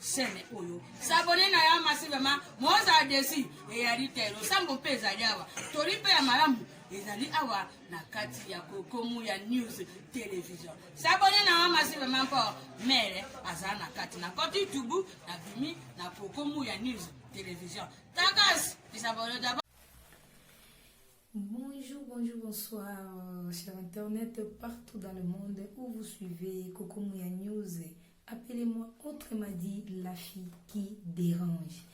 chaîne oyo sabone na ya masi vraimen mozala desi eyali te losambo mpe ezali awa toli mpe ya malamu ezali awa na kati ya kokomu ya news television sabone na ya masi vraimen mpo mere azala na kati na koti youtube na bimi na kokomu ya news television takas isabone Bonjour, bonjour, bonsoir, euh, cher Internet, partout dans le monde où vous suivez Coco Mouya News. Appelez-moi autrement dit la fille qui dérange.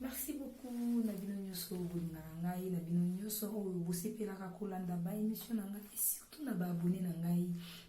Merci beaucoup na bino nyonso bolingaka ngai na bino nyonso oyo bosepelaka kolanda ba émission na ngai surtout na ba abonné na ngai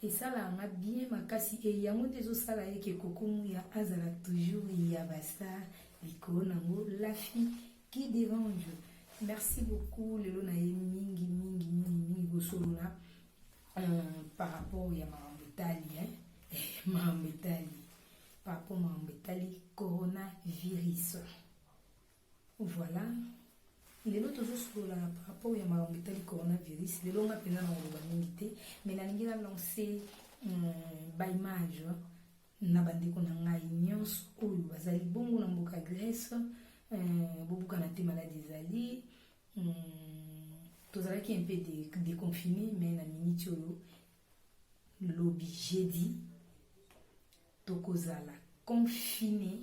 Esalaka nga bien makasi et yango nde ezosala ye ke Koko Muya azala toujours ya ba star likolo nango la fille qui derange. Merci beaucoup lelo na ye mingi mingi mingi mingi kosolola euh, par rapport ya makambo etali hein? makambo etali par rapport makambo etali coronavirus. Voilà. lelo tozosolola par rapport ya makambo etali coronavirus lelo nga mpenza na koloba mingi te mais nalingi na lance hmm, baimage na bandeko na ngai nyonso oyo bazali bongo na mboka grèce hmm, bobukana te maladi ezali hmm, tozalaki un peu déconfine mais na miniti oyo lobi jeudi tokozala confine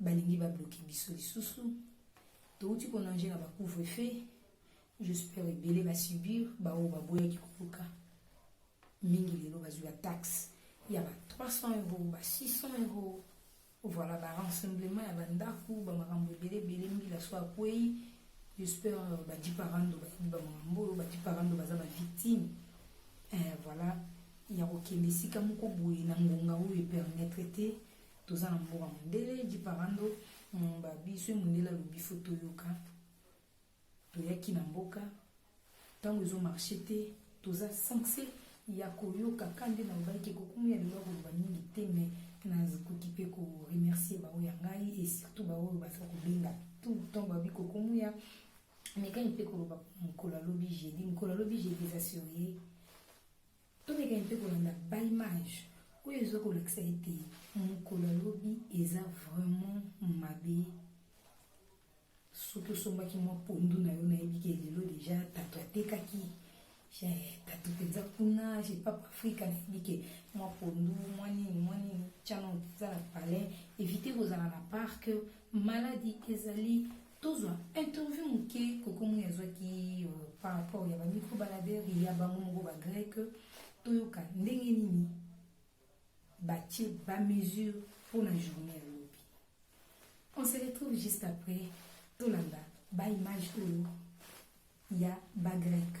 balingi ba bloquer biso lisusu touti konange na ba couvre feu j'espère ebele ba subir baoyo baboyaki koluka mingi lelo bazwi ba taxe ya ba 300 euro ba 600 euro voilà ba rassemblement ya bandako bamakambo ebele ebele mbila so akwei j'espère euh, badi parando bayebi bamakambo oyo badi parando baza ba victime eh, voilà ya kokende esika moko boye na ngonga oyo epermettre te toza na mboka mondele jiparando mm, babiso mondele alobi fo toyoka toyaki na mboka ntango ezomarche te toza sense ya koyoka ka nde nalobaki ekokomi ya lelo koloba mingi te me nakoki mpe koremercie baoyo ya ngai e surtout baoyo baza kobenga tout temps babi kokomuya mekani mpe koloba mokolo alobi jeudi mokolo alobi jeudi eza serie Tomeka mpe kolanda ba image oyo ezo kolakisa ete mokolo ya lobi eza vraiment mabe soki osombaki mwa pondu na yo nayebi ke lelo deja tato atekaki tato mpenza kuna je papa afrika nayebi ke mwa pondu mwa nini mwa nini tiana mpenza na palais evite kozala na parke maladi ezali tozwa interview moke koko moi azwaki euh, par rapport ya bamicro baladere ya bango moko bagreke toyoka ndenge nini batie bamesure mpo na journée ya lobi on se retrouve juste après tolanda baimage oyo ya bagreke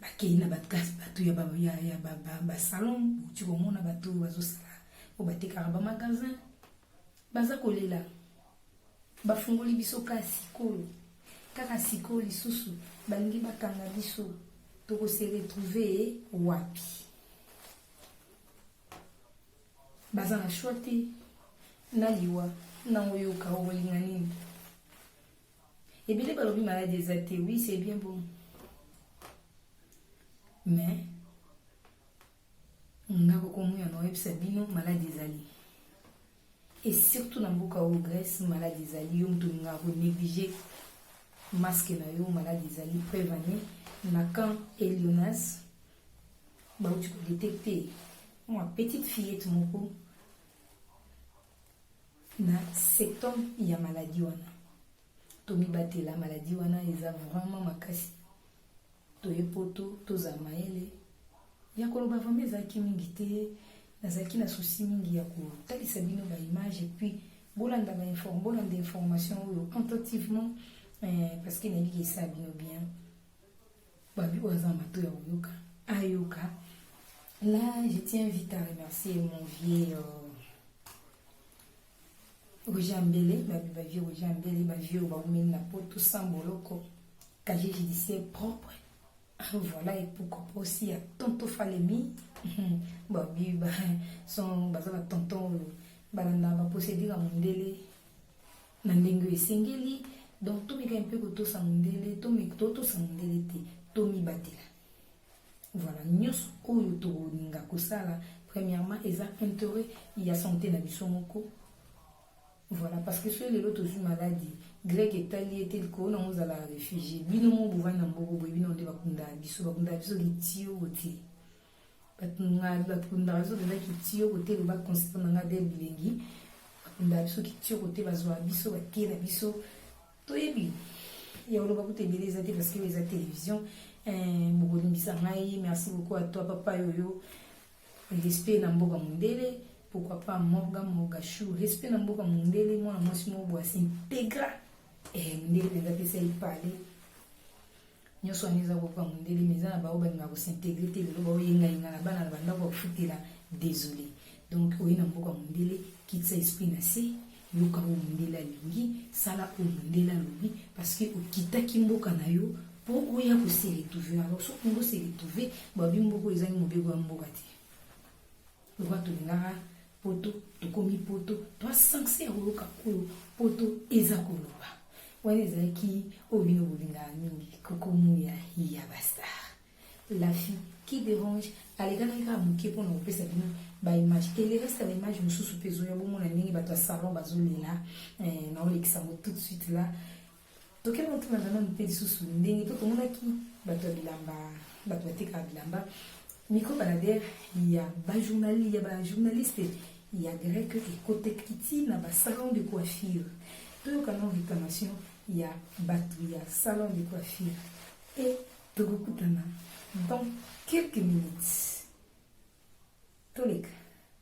bakei na bato bato ya ba ya ya ba ba, ba salon bouti komona bato oyo bazosala oyo batekaka ba magasin baza kolela bafungoli biso kaka sikoyo kaka sikoyo lisusu balingi bakanga biso tokose retrouve wapi baza na shwa te na liwa nango yoka okolinga nini Ebele balobi maladi eza te, oui c'est bien bon. Mais nga kokomoya na oyebisa bino maladi ezali. Et surtout na mboka oyo Grèce maladi ezali yo moto nga ko négliger masque na yo maladi ezali preuve année na camp Elionas bauti kodetecte mwa petite fillette moko na septembre ya maladi wana tomibatela maladi wana eza vraiment makasi toye poto tozala mayele ya koloba vraimen ezalaki mingi te nazalaki na susi mingi ya kotalisa bino baimage epuis bolanda bainform bolanda information oyo attentivement eh, parce que nayebi esala bino bien babi oyo aza na mato ya koyoka ayoka là je tiens vite à remercier mon vieux euh, roger ambele babi bavieux roger ambele bavieux oyo baumeli na poto sans boloko casier judiciaire propre voilà epuko mposi ya tonto falemi babi son baza batonton oyo balanda baprocédure ya mondele na ndenge oyo esengeli donc tomeka mpe kotosa mondele totosa mondele te tomibatela voilà nyonso oyo tokolinga kosala premièrement eza intérêt ya santé na biso moko voilà parce que soki lelo tozwi maladi grec etali ete likolo nango ozala refugie bino mo bovandi na mboko boye bino nde bakundaka biso bakundaka biso litio botie batundaka batundaka biso mpenza kitiyo kote loba concert na nga de bilengi batundaka biso kitiyo kote bazwaka biso batie na biso toyebi ya oloba kutu ebele eza te parce que eza télévision eh, bokolimbisa ngai merci beaucoup à toi papa yoyo respect na mboka mondele pourquoi pas morga morga chou respect na mboka mondele mwana mwasi moko bwasi integra eh, mondele mpenza pesa ye pale nyonso wana eza kokoka mondele mais eza na baoyo balingaka kosintegre te lelo baoyengayenga na bana na bandako ya kofutela désolé donc oye na mboka mondele kitisa esprit na se yoka oyo mondele alingi sala oyo mondele alobi parce que okitaki mboka na yo mpo oya koseretrouve alors soki ongo seretrouve babi mboka ezangi mobeko ya mboka te lokola tolingaka poto tokomi poto toa sanse ya koyoka oyo poto eza koloba wana ezalaki oyo bino bolingaka mingi kokomuya ya bastar la fille qui dérange alekanaki kaka moke mpo na kopesa bino baimage elereste baimage mosusu mpe ezoya bomona ndenge bato ya salon bazolela eh, naolekisa yango tout de suite la tokei kotuna nano mpe lisusu ndenge mpe tomonaki bato ya bilamba bato batekaka bilamba micro balader ya bajournali ya bajournaliste ya grec ekoteki ti na basalon de coiffure toyoka no réclamation ya bato ya salon de coiffure e tokokutana dans quelques minutes toleka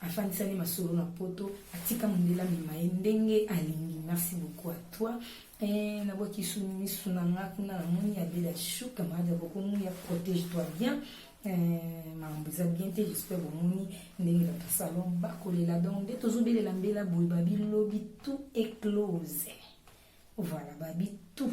afandisani masolo na poto atika mondela mema ye ndenge alingi merci beaucoup à toi eh, nabwaki su misu na nga kuna namoni ya bela chou camarade ya bokomu ya protège toi bien eh, makambo eza bien te j'espère bomoni ndenge bato salon bakolela donc nde tozobelela mbela boye babilobi tout éclose voilà babi tout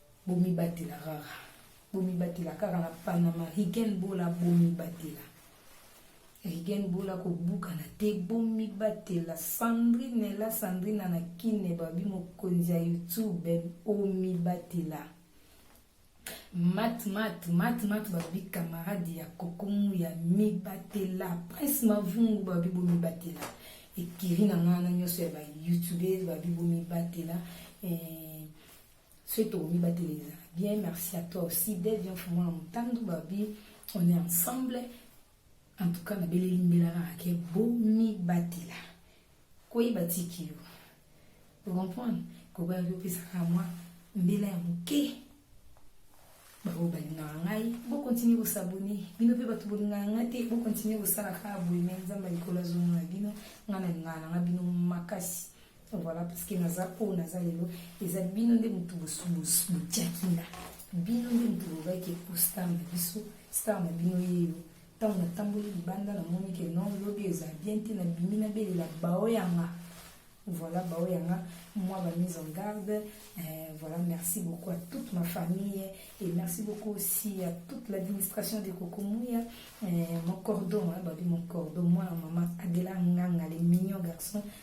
Bomibatela kaka. Bomibatela kaka na Panama. Rigen Bola bomibatela. Rigen Bola kobukana te bomibatela. Sandrine la Sandrine na kine babi mokonzi ya YouTube omibatela. Mat mat mat mat babi camarade ya kokomu ya mibatela. Prince Mavungu babi bomibatela. Ekiri na ngana nyonso ya ba YouTubers babi bomibatela. Eh, soki tokomibatela ezala bien merci à toi aussi dev ya mfumu na motandu babi on est ensemble en tout cas nabeleli mbela kaka ke bomibatela koyeba tiki yo ocomprendre kokoyaki opesaka mwa mbela ya moke baoyo balingaka ngai bokontinue kosabone bino mpe bato bolingaka ngai te bokontinue kosala kaka boye me nzambe ya likolo azomona bino ngai nalingaka na ngai bino makasi Voilà, parce que naza oyo naza lelo eza bino nde motu botiaki nga bino nde motu lobaki ekostar na biso star na bino yeyo ntango natamboli libanda namoni ke non lobi eza bien te nabimi nabelela bao yanga voilà bao yanga moi ba mise en garde euh, voilà merci beaucoup à toute ma famille et merci beaucoup aussi à toute l'administration de kokomuya euh, mon cordon hein, babi mon cordon moi maman adela nganga les mignon garçon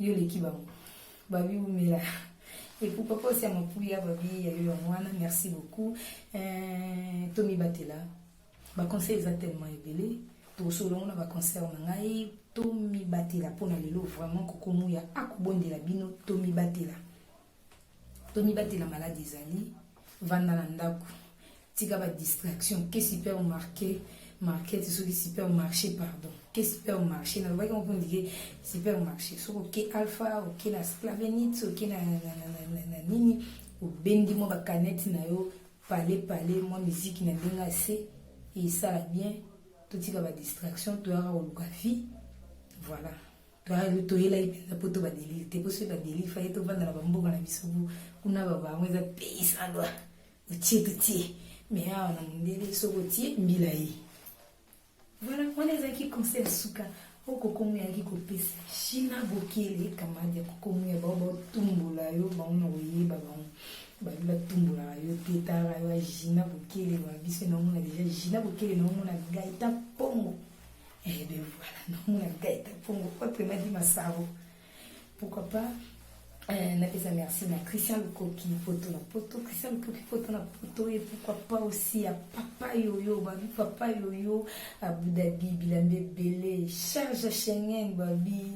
yo leki bango babi umela et pour papa aussi ya mapuya babi ya yo ya mwana merci beaucoup euh, tomibatela baconseil eza tellement ebele tosolo yango na baconcert na ngai tomibatela mpo na lelo vraiment kokomuya akobondela bino tomibatela tomibatela maladi ezali vanda na ndako tika ba distraction ke supermarché market soki supermarché pardon ke supermarché nalobaki moko ndike supermarché soki oke alpha oke na splavenit oke na nini obendi mwa bakanete na yo pale pale mwa miziki na ndenge ya se esala bien totika ba distraction toyaka koluka vie voilà toyelaki mpenza mpo to badeli te mpo soki badeli faye tovanda na bamboka na biso kuna babango eza pays sans loi otie totie me awa na mondele soki otie mbila ye voilà wana ezalaki conseil ya suka oyo kokomo yaki kopesa china bokele kamadi ya kokomo ya bao baotumbola yo bango na koyeba bango babi batumbolaka yo te tala yo ya gina bokele wa biso naomona deja gina bokele naomona gaita mpongo Et eh bien voilà, non, la tête, pour mon pote, m'a dit ma saro. Pourquoi pas euh, na pesa merci na christian lukoki poto na poto christian lukoki poto na poto et pourquoi pas aussi ya papa yoyo babi papa yoyo abu dhabi bilamba ebele charge ya schengen babi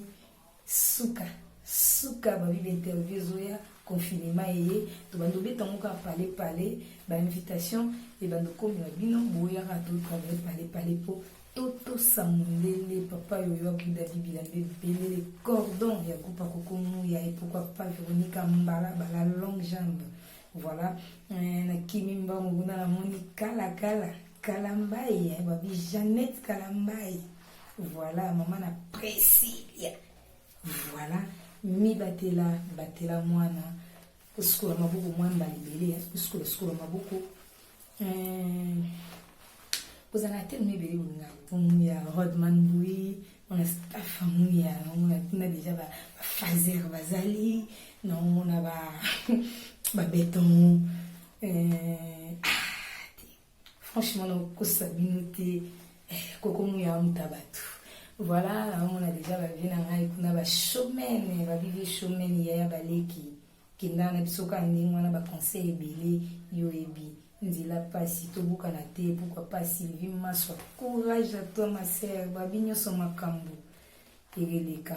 Suka suka babi ba interview ezoya confinement eye tobandi obeta yango kaka pale pale bainvitation ebandi okomela bino boyaka totravaye pale pale mpo totosa mondele papa yoyo abuda bibila nde belele cordon ya groupe akokomu ya epokwa papa veronika mbala bala longue jambe voilà euh, nakimi mbango kuna namoni kalakala kalambai eh, babi jeannette kalambai Voilà, maman na Priscilla. Voilà, mi batela, batela mwana. Kusukola maboko mwa mbala ebele, hein. kusukola sukola maboko. Euh, kozala te mi ebele bolinga mpungu ya Rodman Bui, on a staff yango ya on a tuna déjà ba fazer bazali, na on a ba ba beton. Euh, Franchement, na kokosa bino te. Eh, koko muya amuta batu. Voilà, amona deja ba vie na ngai kuna ba showmen, ba vie showmen yaya baleki. Kenda na biso ka ndenge wana ba conseil ebele yo ebi. Nzela pasi tobukana te, pourquoi pas Sylvie Maswa. Courage à toi ma sœur, babi nyonso makambo. Ebeleka.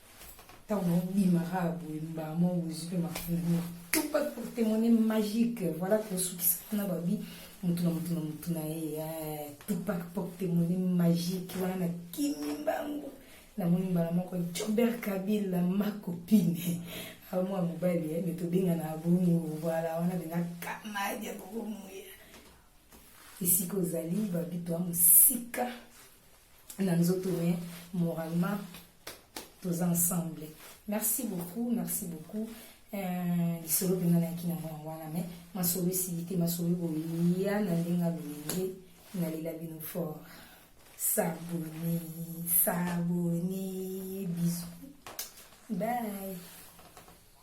ntango naobimaka ya boye mbala moko bozwi mpe mafungu tout pas pour témoigner magique voilà tosukisa mpona babi motu na motu na motu na ye eh, tout pas pour témoigner magique wana na kimi mbango namoni mbala moko jobert kabila makopine ah, mwa mobali eh, me tobengana bongo voilà wana benga kamadi ya bokomoya esika ozali babi toa mosika na nzoto me moralement tous ensemble merci beaucoup merci beaucoup euh, lisolo mpenza nayaki na mwana wana me masolo esili te masolo ekoya na ndenge alolenge nalela bino fort sabone sabone bisu bye